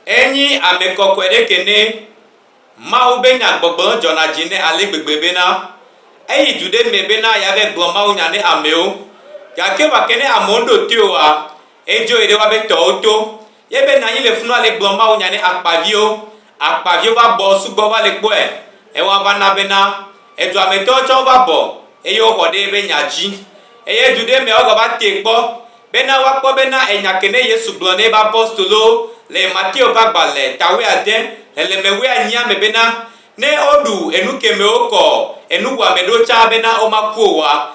Enyi ame kɔkɔe ɖe ke ne Mawu be nya gbɔgblɔ dzɔna dzi nɛ ale gbegbe bena eyi du ɖe mɛ bena yeave gblɔ mawunya ne amewo. Gake vɔ ke ne amewo ɖo toe oa, edzoe ɖe woabe tɔwo to. Yebena anyi le funu ale gblɔ mawunya ne akpaviwo. Akpaviwo va bɔ sugbɔ va le kpɔe, ewa va na bena edua me tɔwo tsɛ wova bɔ eye woxɔ ɖe eƒe nya dzi. Eye du ɖe meawo gava tee kpɔ bena woakpɔ bena enya ke ne Yesu gblɔ na eƒe apostolowo le Mateo ƒe agbalẽ ta wuiade, xlẽleme wuianyia me bena, Ne woɖu enu ke me wokɔ enu wɔame ɖo tsã bena womaku o oa,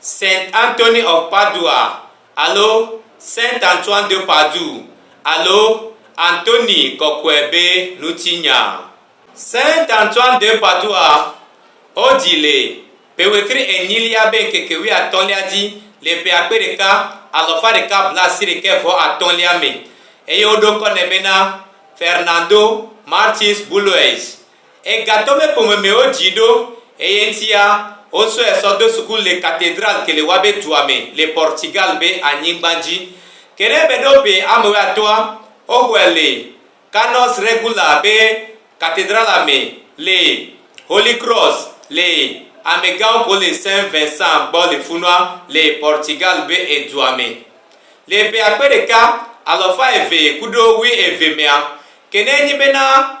Saint Anthony of Padua alo Saint Antoine de Padoue alo Antoni kɔkɔe be ŋutinya. Saint Antoine de Padua, wodzi le ƒe wetri enyilia be ŋkeke wuiatɔ̃lia dzi le ƒe akpe ɖeka alafa ɖeka blaasiɖekɛ vɔ atɔ̃lia me eye woɖo ŋkɔ nɛ bena Fernando Martins Buloes Egatɔ me ƒome me wo dzi ɖo, eye ŋtia wo sɔe sɔ do suku le Catedral ke le Wabe dua me le Portugal be anyigba dzi. Ke ne be ɖo be ame we atɔa wo xɔe le Canos Regula be Catedrala me le Holy Cross le ame gawo ko le Saint Vincent gbɔ le funua le Portugal be edua me. Le be akpe ɖeka alɔfa eve kuɖo wui eve mea, ke ne nyi be na.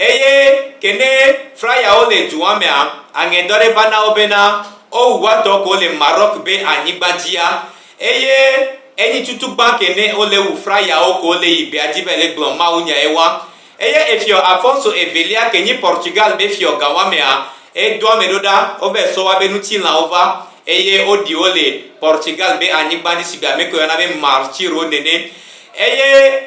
Eye ke ne frayawo le dua mea, aŋɛ dɔ ɖe va na wo bena wowu woatɔ ko le Maroc be anyigba dzia, eye enyi tutu gbã ke ne wole wu frayawo ko le yi bea dzi be le gblɔ Mawu nyae wa. Eye efiɔ Afonso evelia ke nyi Portugal be fiɔ gã wa mea, edo ame ɖo ɖa wove sɔ wa be nutilãwo va, eye woɖi wo le Portugal be anyigba dzi shigbe amekɔ yɔna be Marchiro nene. Eye.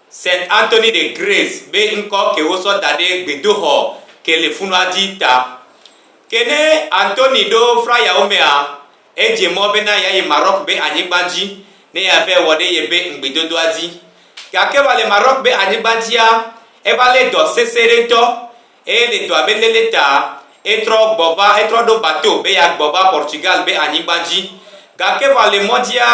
Saint Anthony de Grace be ŋkɔ ke wosɔ daɖɛ gbedoxɔ ke le funua dzi ta. Ke ne Anthony ɖo frayawo mea, edze mɔ bena yeayi Maroc be anyigba dzi ne yeavɛ wɔ ɖe yebe ŋgbedodoa dzi. Gake va le Maroc be anyigba dzia, eva lé dɔ sesẽ ɖe ŋtɔ. Eye le dɔa be lele ta, etrɔ gbɔ va, etrɔ ɖo bateau be yeagbɔ va Portugal be anyigba dzi. Gake vɔ le mɔdzia,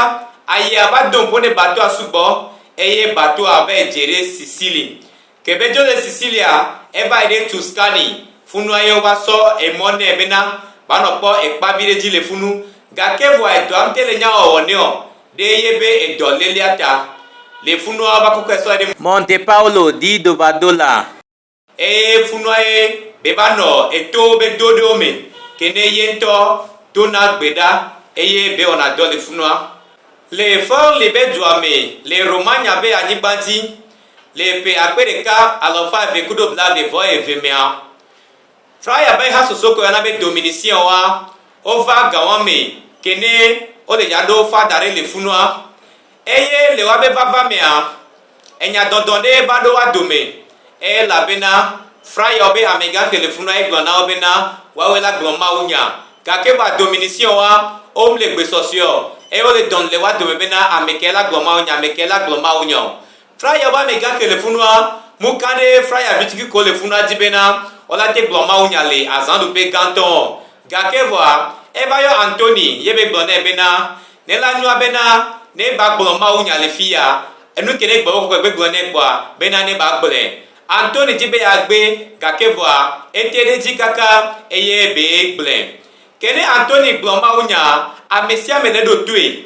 ayea va do ŋpo ɖe bateau-a sugbɔ, eye bateau-a vae dze ɖe Sicily. Ke be dzo le Sicilia, evae ɖe Tuscany. Funua ye wova sɔ emɔ nɛ bena va nɔ kpɔ ekpa viɖe dzi le funu. Gake vɔ edɔa ŋte le nyawɔwɔ nɛ ɔ, ɖe ye be edɔ lelea ta, le funua wova kɔkɔe sɔe ɖe. Monte Paulo di do va do la. Eye funua ye be va nɔ eto be do ɖewo me ke ne ye ŋutɔ do na gbe ɖa eye be wɔna dɔ le funua. Le Furli be dua me le Romagna be anyigba dzi le ƒe akpe ɖeka alafa eve kudo blaeve vɔ eve mea, Fraya be hasoso ke woyɔna be Dominician woa, wova gawa me ke ne wole ya ɖo fa da ɖe le funua. Eye le woabe vava mea, enya dɔdɔ ɖe va ɖo woa dome, elabena Frayɔ be hamɛgã xe le fu na egblɔ na wo bena, Woawe la gblɔ mawunya. Gake va dominisiɔa, omle gbe sɔsɔeɔ, eye wole dɔn le woa dome bena, Amekɛ la gblɔ mawunya, amekɛ la gblɔ mawunya o. Fraya ƒe amegã xee le funua. Nu ka ɖee Fraya vi tukukɔ le funua di bena wòala te gblɔ mawunya le azãɖuƒe gãtɔ ɔ? Gake vɔa, eva yɔ Antoni ye be gblɔ nɛ bena, Ne la nyoa bena ne ba gblɔ mawunya le fiya, enu ke ne Gbɔgbɔ Kɔkɔe gbe gblɔ nɛ kpɔa, bena ne ba gblɔe. Antoni di be ya gbe, gake vɔa, ete ɖe edzi kaka eye be gblɔe. Ke ne Antoni gblɔ mawunya, amesiame ne ɖo toe.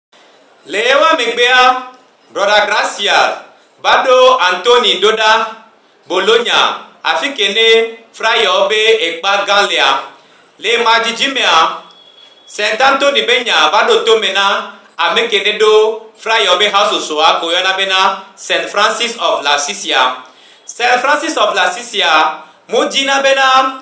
Le ɣewoa megbea, Brɔda Gracia va ɖo Anthony ɖo ɖa Bologna, afike ne Frayɔ be ekpa gã lea. Le ema dzidzi mea, Saint Anthony be nya va ɖo tome na ameke ne ɖo Frayɔ be hasosoa ke woyɔna bena Saint Francis of Lassisia. Saint Francis of Lassisia mo dzina bena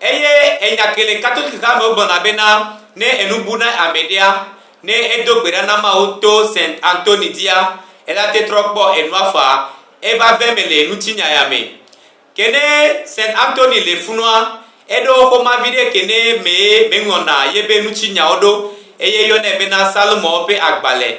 Eye enya ke le Katolikitɔa me wogblɔna bena, ne enu bu na ame ɖea, ne edo gbe ɖa na Mawu to Saint Anthony dzia, elate trɔ kpɔ enua faa, eva ve me le nutsinya ya me. Ke ne Saint Anthony le funua, eɖo xoma viɖe ke ne mee meŋlɔna yebe nutsinyawo ɖo, eye yɔnɛ bena Psalmowo ƒe agbalẽ.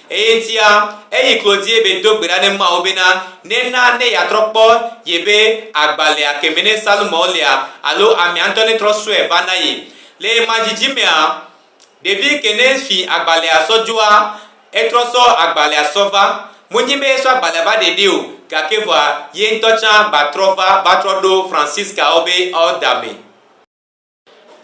Eyetia eyi klodie be do gbe ɖa ne Mawu bena nena ne yeatrɔ kpɔ yebe agbalea keme ne Salomao lia alo amea ŋutɔ ne trɔ sɔe va na ye. Le yema dzidzi mea, ɖevi ke ne fi agbalea sɔ dzoa, etrɔ sɔ agbalea sɔ va. Monyi be esɔ agbalea va ɖeɖe o, gake vɔa ye ŋutɔ tsã gba trɔ va va trɔ ɖo Francisca-wo be ɔdame.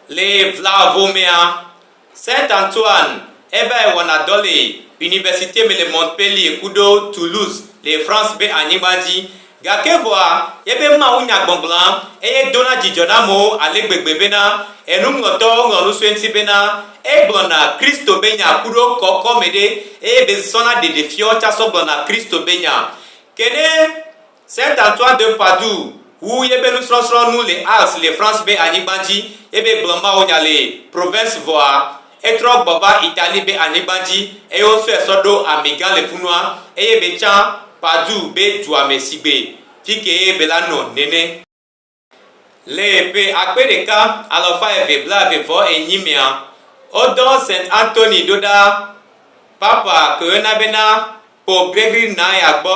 Le Vlahovemea, Saint Antoine evae wɔna dɔ le Universite me le Montpellier ku ɖo Toulouse le France be anyigba dzi. Gake vɔa, yebe Mawu nya gbɔgblɔa eye dona dzidzɔ na amewo ale gbegbe bena enuŋlɔtɔwo ŋlɔ nu so eŋuti bena, Egblɔna Kristo be nya ku ɖo kɔkɔme ɖe eye be zɔna ɖeɖefiɔ tsa sɔ gblɔna Kristo be nya. Ke ne Saint Antoine de Padoue wu yebe nusrɔsrɔ nu le Arles le France be anyigban dzi yebe gblɔ mawunya le Provence vɔa etrɔ gbɔ va Italie be anyigban dzi eye wosɔe sɔ ɖo ami gã le funua eye be tsã Padoue be dua me sigbe fikee be la nɔ nene. Le ƒe akpe ɖeka, alafa eve blaeve vɔ enyi mea, wodɔ Saint Anthony ɖo ɖa Papa Corona be na Pope Gregory IX-a gbɔ.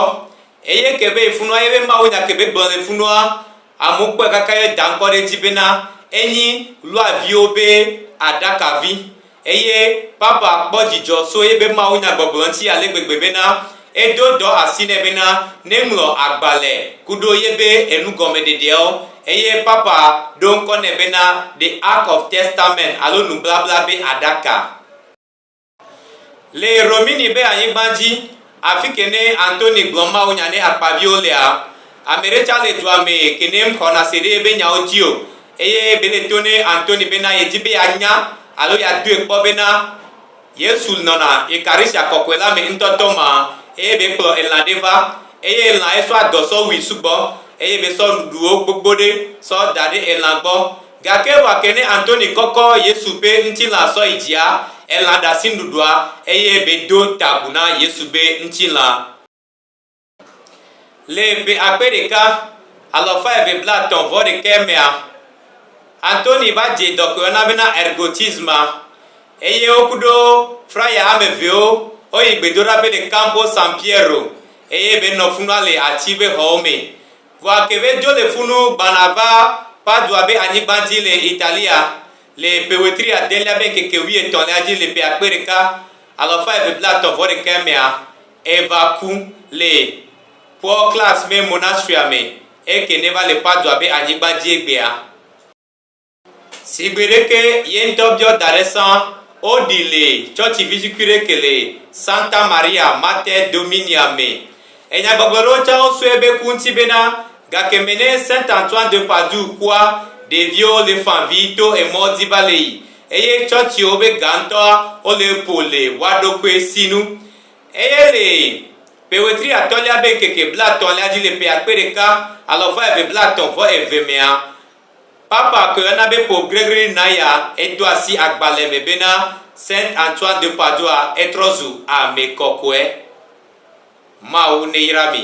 Eye ke be funua ye be mawunya ke be gblɔ le funua, amewo kpɔe kaka ye da ŋkɔ ɖe edzi be na enyi luaviwo be aɖakavi. Eye Papa kpɔ dzidzɔ so ye be Mawu nya gbɔgblɔ ŋti ale gbegbe bena edo dɔ asi nɛ bena ne ŋlɔ agbale kuɖo ye be enu gɔme ɖeɖeawo. Eye Papa ɖo ŋkɔ nɛ bena The Ark of Testament alo Nublabla be Aɖaka. Le Romini be anyigba dzi, Afi kenɛ Anthony gblɔ mawunya nɛ akpaviwo lea? Ameɖe tsa le dua me kenɛ mxɔna se ɖe ebe nyawo dzi o eye bele to nɛ Anthony bena yedi be yanya alo yadɔe kpɔ bena Yesu nɔna Eucharistya kɔkɔe la me ŋtɔtɔ ma eye be kplɔ elã ɖe va eye elã esɔ adɔ sɔ wui sugbɔ eye be sɔ nuɖuɖuwo gbogbo ɖe sɔ daɖe elã gbɔ Gake vɔ ake ne Antoni kɔkɔ Yesu ƒe ŋtilã sɔ yi dzia, elã ɖe asinuɖuɖua, eye be do ta agu na Yesu be ŋtilã. Le ƒe akpe ɖeka, alafa eve blatɔ̃ vɔ ɖekɛ mea, Antoni va dze dɔ ke woyɔna bena ergotisma, eye wo kuɖo fraya ame evewo wo yi gbedoɖaƒe le Campo San Piero, eye be nɔ funua le ati be xɔwo me. Vɔa kebe dzo le funu gbana va Padua be anyigba dzi le Italia le ƒe wetri adelia be ŋkeke wuietɔ̃lia dzi le ƒe akpe ɖeka, alafa eve blatɔ̃ vɔ ɖekae mea, Eva ku le Paul Clares me Monastery-a me eke neva le Padua be anyigba dzi egbea. Si gbe ɖeke ye ŋutɔ biɔ da ɖe sã, woɖii le tsɔtsi vizikui ɖe ke le Santa Maria Mater Dominia me. Enyagbɔgblɔ ɖewo tsã wosɔe be ku ŋuti bena, gake me ne Saint Antoine de Padoue kua, ɖeviwo le fã vi to emɔ dzi va le yi, eye tsɔtsiwo be ga ŋutɔa wole epo le woaɖokui si nu. Eye le ƒe wetri atɔ̃lia be ŋkeke blatɔ̃lia dzi le ƒe akpe ɖeka alɔfa eve blatɔ̃ vɔ eve mea, Papa ke ena be Pope Gregory naya edo asi agbalẽ me bena Saint Antoine de Padoua etrɔ zu ame kɔkɔe. Mawu neyra mi.